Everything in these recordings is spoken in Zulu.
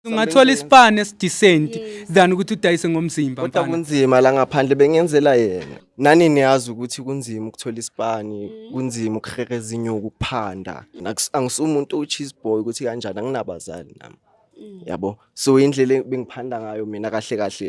ungathola isipani esidisenti than ukuthi udayise ngomzimba kodwa kunzima la ngaphandle bengenzela yena nani niyazi ukuthi kunzima ukuthola isipani mm. kunzima ukuhereza inyuku ukuphanda angisumuntu ucheese boy ukuthi kanjani anginabazali nami mm. yabo so indlela bengiphanda ngayo mina kahle kahle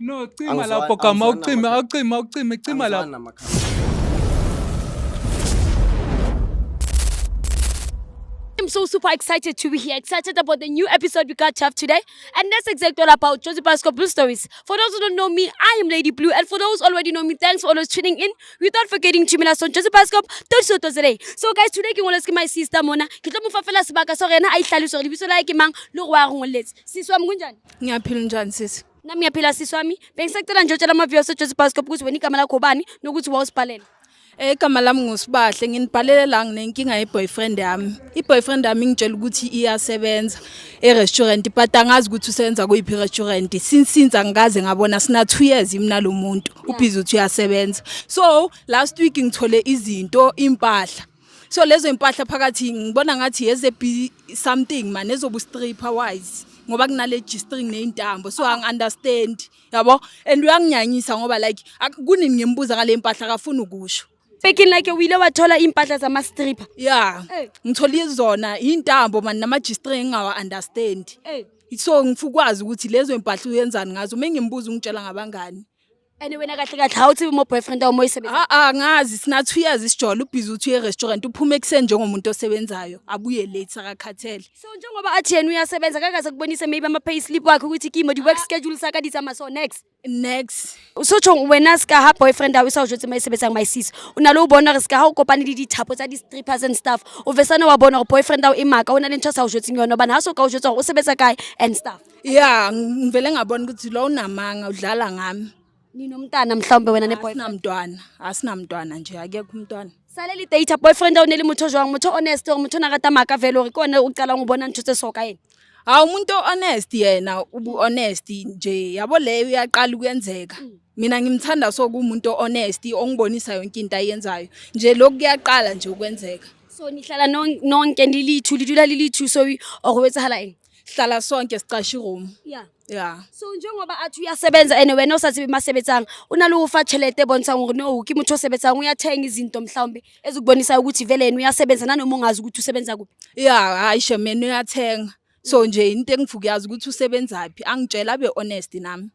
No, cima Angizwa- lapho gama angizwani ucime namakhaya. awucime awucime cima lapho. Angizwani namakhaya. I'm so super excited to be here, excited about the new episode we got to have today. And that's exactly all about Josie Pasco Blue Stories. For those who don't know me, I am Lady Blue. And for those already know me, thanks for always tuning in. Without forgetting to us on Josie Pasco, today. So guys, today ke ngoletse ke my sister Mona. Ke tlo mo fa fela sebaka so rena a itlhalose gore lebitso la hae ke mang le gore wa re ngoletse. Sisi wa mo kunjani? ngiyaphila njani sisi Nami ngiyaphila sisi wami. Bengisacela nje utshela ama viewers eJozi Bascop ukuthi wena igama lakho bani nokuthi wawusibhalela. Eh, igama lami ngusibahle nginibhalele la nginenkinga yeboyfriend yami iboyfriend yami ingitshela ukuthi iyasebenza erestaurant but angazi ukuthi usebenza kuyiphi restaurant since since angikaze ngabona sina 2 years mina lo muntu ubhizi uthi uyasebenza so last week ngithole izinto impahla so lezo impahla phakathi ngibona ngathi yeze be something man ezobu stripper wise ngoba kunale G-string nezintambo so angi understand yabo and uyanginyanyisa ngoba like kunini ngimbuza ngale impahla akafuni ukusho Speaking like wile wathola impahla zama stripper yeah hey. ngithola izona intambo man nama G-string engawa understand hey. so ngifukwazi ukuthi lezo impahla uyenzani ngazo mengimbuza ungitshela ngabangani and wena kahle kahle how to be more boyfriend or more isebenza Ah ah ngazi sina 2 years isijola ubhizi uthi uye restaurant uphuma ekuseni njengomuntu osebenzayo abuye late akakhathele. so njengoba athi yena uyasebenza kakaze kubonise maybe ama pay slip wakhe ukuthi kimo the work schedule saka disa ma so next Next. usotsho wena sika ha boyfriend awu isawusho ukuthi mayisebenza mayisisi unalo ubona re sika ha ukopane le dithapo tsa di-strippers and stuff uvesane wa bona gore boyfriend awu imaka o na le ntho a sa o jetseng yone obane ha so ka o jetsa gore o sebetsa kae and stuff ya ngivele ngabona ukuthi lo unamanga udlala ngami ninomntana mhlawumbe wena neboyfriend asinamntwana asinamntwana nje akekho umntwana saleli data boyfriend awuneli motho jwang motho honest or motho nakata maka vele ore kone ucala ngubona ntho tse soka yena hawu umuntu honest yena ubu honest nje yabo leyo uyaqala ukuyenzeka mm. mina ngimthanda so kumuntu honest ongibonisa yonke into ayenzayo nje lokhu kuyaqala nje ukwenzeka so nihlala nonke nilithu litula lilithu so or wetsahala yini hlala sonke sicashe iroom yeah yeah so njengoba athi uyasebenza and wena osathi bimasebenzanga unalowo ufa chelete ebonisa ukuthi no kimi uthi osebenzanga uyathenga izinto mhlawumbe ezikubonisa ukuthi vele yena uyasebenza nanoma ungazi ukuthi usebenza kuphi yeah hayi shemene uyathenga so nje into engivukuyazi ukuthi usebenzaphi angitshela abe honest nami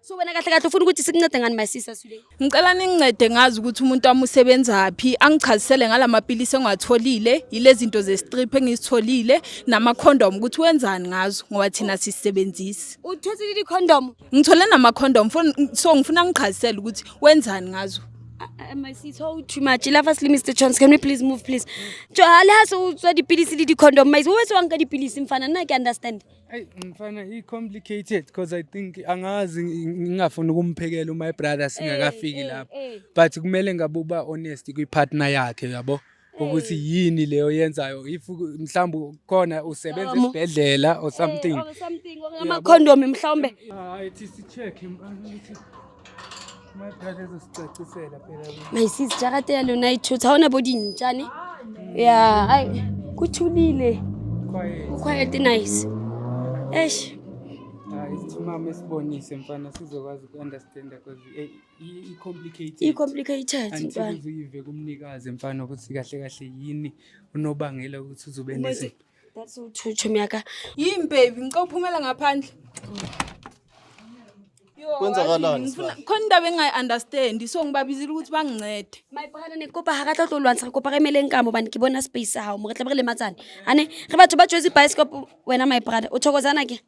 so wena kahle kahle ufuna ukuthi sikuncede ngani my sister Sule ngicela ningincede ngazi ukuthi umuntu wami usebenzaphi angichazisele ngalamapilisi engiwatholile yilezinto zestrip engizitholile nama condom ukuthi wenzani ngazo ngoba thina sisebenzisi uthothile i condom ngithole nama condom so ngifuna ngichazisele ukuthi wenzani ngazo Uh, my sis, how too much. Love us, Mr. Chance. Can we please move, please? John, alas, so the pills, the condom. My, who is one? The pills, mfana. I can understand. Hey mfana i complicated because I think angazi ngingafuni ukumphekela my brother eh, singakafiki eh, lapho eh. but kumele ngabe uba honest kwi partner yakhe uyabo ukuthi yini leyo yenzayo if mhlawumbe khona usebenza esibhedlela or something or something ama condom mhlawumbe hayi thi si check my sis jarate ya lona e tshotsa ga ona bo dintšane ya go thulile quiet nice esh mama esibonise mfana sizokwazi uku-understanda because eh, i-complicated i-complicated mfana uyive kumnikazi mfana ukuthi kahle kahle yini unobangela ukuthi uzobe That's all two chomi yaka. Yini baby, ngicela uphumela ngaphandle. Yo, Kwenzakalani, wazi, ngifuna- Sibali? Khona indaba engayi-understand so ngibabizile ukuthi bangincede. My brother ne kopa ha ka tla tlo lwantsha re kopa re emeleng ka mo bane ke bona space sa hao mo re tla be re lematsane ane re batho ba tšwetse bioscope wena my brother o thokozana ke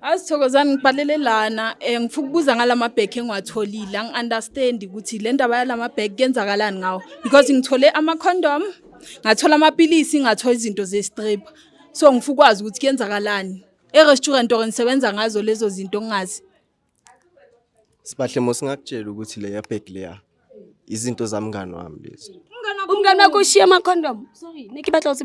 Azithokozani ngibhalele lana eh ngifuna ukubuza ngalama bag engiwatholile angi understand ukuthi le ndaba yalama bag kenzakalani ngawo because ngithole ama condom ngathola amapilisi ngathola izinto ze strip so ngifuna ukwazi ukuthi kenzakalani e restaurant or ngisebenza ngazo lezo zinto ngingazi Sibahle mosingakutshela ukuthi le ya bag leya izinto zamngani wami lezi. Umngane wakho ushiya ama condom. Sorry, niki batla ukuthi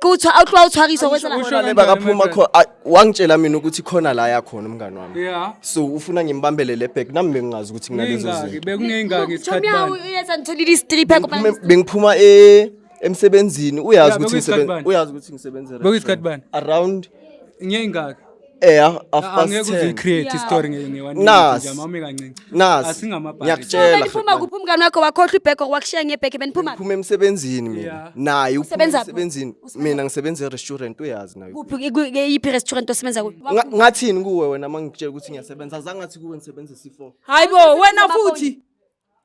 qutha awuthiwa uthwakiswa kwesa la Usho Neba kaphuma khona ah, wangitshela mina ukuthi khona la yakhona umngani wami Yeah. so ufuna ngimbambele le bag nami bengingazi ukuthi kunalezo Ngeyingaki, zinto bekungeyingaki isikhathi Chomyawo bani. uyenza ngitholile istripha Bengiphuma- bengiphuma e- emsebenzini uyazi Yeah, ukuthi bekuyisikhathi ngisebenza bani? uyazi ukuthi ngisebenza Bekuyisikhathi bani? around Ngeyingaki. eh half Ah, past angeke uze 10 create Yeah. story nge nge one Nas. minute nje awume kancinci Nas. asingamabhadi Ngiyakutshela. beniphuma kuphi umngane wakho wakhohlwa ibheko wakushiya ngebheke beniphuma kuphi? phuma emsebenzini mina Yeah. naye uphuma Usebenza kuphi? emsebenzini mina ngisebenza e-restaurant uyazi nayo kuphi ku- kuyiphi restaurant osebenza kuyo Nga- ngathini kuwe wena uma ngikutshela ukuthi ngiyasebenza azange athi kuwe ngisebenza c4 hayi bo wena futhi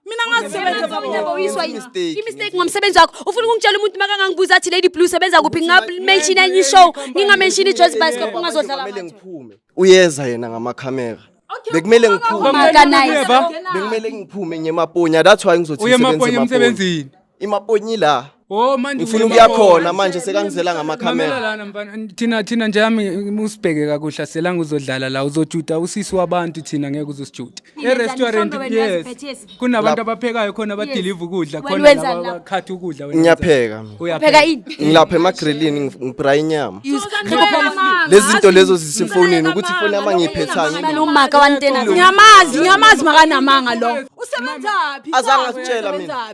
mina ngazisebenza baba Mina boyiswa Yenza yini? imistake, imistake yenza ngomsebenzi wakho ufuna ukungitshela umuntu makangangibuza athi lady blue sebenza kuphi ngingamenshini enye ishow ngingamenshini ijoyce bicycle ungazodlala Kumele ngathi. ngiphume. Uyeza yena ngamakhamera. Bekumele ngiphume. Maka nice. Bekumele ngiphume ngemaponya. That's why ngizothi Uye maponya emsebenzini. imaponyi la Oh manje ngifuna ukuya khona manje sekangizela ngamakhamera lana mfana thina thina nje yami usibheke kakuhle selanga uzodlala la uzojuda usisi wabantu thina ngeke uzosijuda e restaurant yes kunabantu abaphekayo khona badeliver ukudla khona laba bakhatha ukudla wena ngiyapheka uyapheka ini ngilapha emagrillini ngibra inyama lezi zinto lezo zisifonini ukuthi ifoni yami ngiyiphethayo nomaka wantena ngiyamazi ngiyamazi makanamanga lo usebenzaphi azangasitshela mina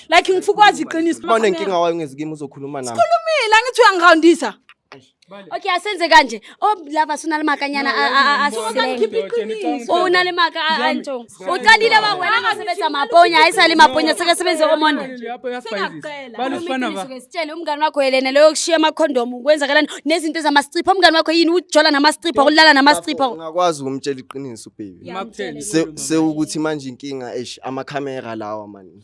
like ngifuna ukwazi iqiniso Uma unenkinga wayo ngezikimi uzokhuluma nami. Khulumile angithi uyangiroundisa. Okay asenze kanje. Oh lava sunalimakanyana a- a- a- asizilenge. Ngikhipha iqiniso. Oh, unale maka a- a- nto. Uqalile wa wena angasebenza maponya ayisali maponya sekasebenza omonde. Sengakugcela. balufana ba Uqiniso-ke, Sitshele umngani wakho yelene leyo kushiya amakhondomu kwenzakalani nezinto ezamasicipha umngani wakho yini ujola namasicipha ulala namasicipha Ungakwazi ukumtshela iqiniso baby. makutheni Se- Sewukuthi manje inkinga eish amakhamera lawa mani.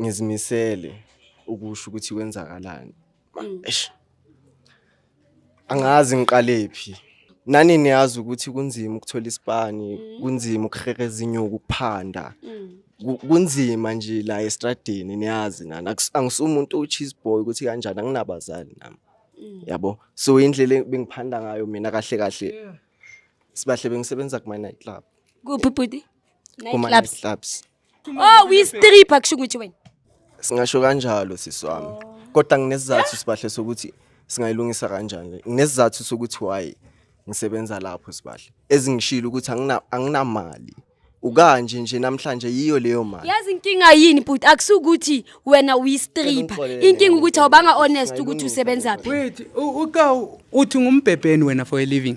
ngizimisele ukusho ukuthi kwenzakalani mm. eish angazi ngiqalephi nani niyazi ukuthi kunzima ukuthola isipani mm. kunzima ukuhereza inyuku ukuphanda mm. kunzima nje la estradini niyazi nana angisumuntu ucheese boy ukuthi kanjani anginabazali nami yabo so indlela bengiphanda ngayo mina kahle kahle sibahle bengisebenza kuma night club kuphi bhuti kuma night clubs Oh, we strip akusho ukuthi wena. Singasho kanjalo sisi wami. Oh. Kodwa nginesizathu sibahle sokuthi singayilungisa kanjani. Nginesizathu sokuthi why ngisebenza lapho sibahle. Ezingishilo ukuthi angina anginamali. ukanje nje namhlanje yiyo leyo mali yazi inkinga yini bhuti akusukuthi wena uyistripper inkinga ukuthi awubanga honest ukuthi usebenza phi wait uka uthi ngumbhebheni wena for a living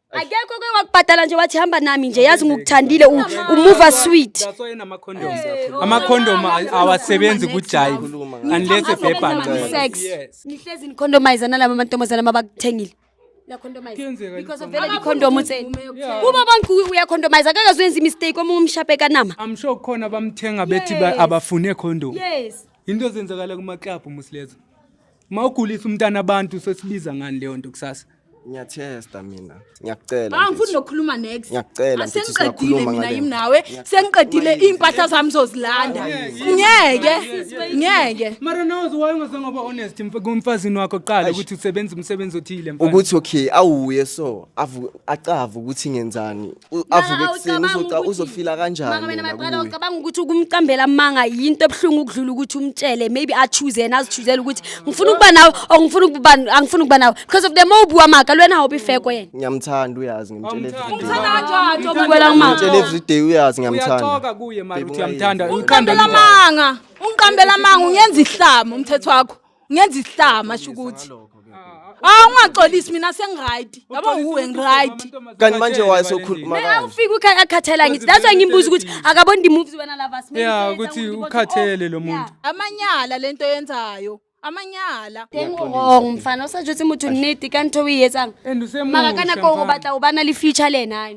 akekho ke wakubhadala nje wathi hamba nami nje yazi ngikuthandile u- umuva sweet That's why enama condom. Ama condom awasebenzi ku jive unless a paper Ngicela. sex Yes. nihlezi nicondomize nalaba mantombazana abakuthengile Niyacondomize. Kuyenzeka Because of nje. vele icondom utheni Yeah. kuba bonke u- uyacondomize akakaze uyenze imistake omunye umshape kanama I'm sure khona bamthenga bethi ba- Yes. abafune condom. yes Into ezenzakala kuma club muslezo. Uma ugulisa umntana abantu sesibiza ngani leyo nto kusasa? Ngiyatesta mina. Ngiyakucela. Ah ngifuna nokukhuluma next. Ngiyakucela mfethu singakhuluma ngale. Mina yimi nawe sengiqedile impahla zami zozilanda. Ngeke. Ngeke. Mara nawe uzowayo ngizange ngoba honest kumfazini wakho qala ukuthi usebenza umsebenzi othile mfana. Ukuthi okay awuye so avu acava ukuthi ngenzani U- avuke ekuseni uzoca- uzofila kanjani maka mina yena maqala kuye. ucabanga ukuthi ukumcambela amanga yinto ebuhlungu ukudlula ukuthi umtshele maybe achoose yena azichuzele ukuthi ngifuna ukuba nawe or ngifuna ukuba angifuna ukuba nawe because of the more ubuwa maka lwena hawubi fair kwena ngiyamthanda uyazi ngimtshela everyday Ngithanda kanjani njengoba Ubukela ngimthanda? amanga. ngimtshela everyday uyazi ngiyamthanda uyaxoka kuye mara Baby, uthi uyamthanda ungayezi. uyikhanda Ungiqambela amanga ungiqambela amanga ungenza ihlama umthetho wakho ngenza isihlama sho ukuthi hawu ungaxolisi mina sengiright yabo uwe ngiright kanti manje wayesokhuluma mina kanje ufika ukhaya akhathela ngithi that's why ngimbuza ukuthi akaboni the moves wena lava sime ya ukuthi ukhathele lo muntu amanyala lento yenzayo amanyala teng o wrong mfana o sa jotse motho nnete ka ntho o e etsang and usemuhle maka ka nako o mfana. batla o ba na le future le ena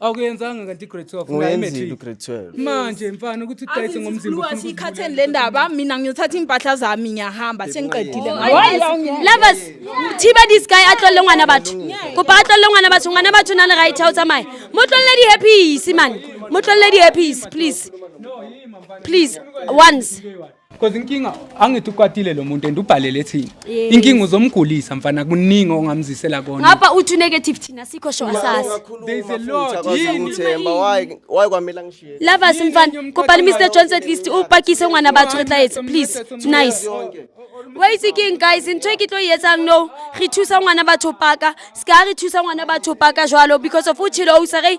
Awukuyenzanga kanti grade 12 la Nguyenzile imatric. ugrade 12. Manje mfana ukuthi udayise ngomzimba ufuna ukuthi- sikhatheni le ndaba mina ngiyothatha iy'mpahla zami ngiyahamba sengiqedile Lovers, thiba this guy a tlolle ngwana batho. Kopa a tlolle ngwana batho, ngwana batho na le right ha o tsamaya. Mo tlolle di happy man. Mo tlolle di happy please. Please, once. Because inkinga angithi ukwatile lo muntu and ubhalele thina. Yes. Inkinga uzomgulisa mfana kuningi ongamzisela kona. Ngapha uthi negative thina sikho sho asasi. There is a lot. Yini? Themba why why kwamela ngishiye. Lava simfana kopani Mr Jones at least upakise ungana batho re tla etsa please. It's nice. Why is king guys into e ke tlo e etsang no re thusa ngwana batho paka ska re thusa ngwana batho paka jwalo because of uchilo o sa re